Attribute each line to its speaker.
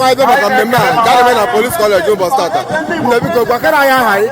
Speaker 1: anyị bịa maka mmemme a nke a na-eme na police college ụbọchị tata nne biko gwakara anyị aha gị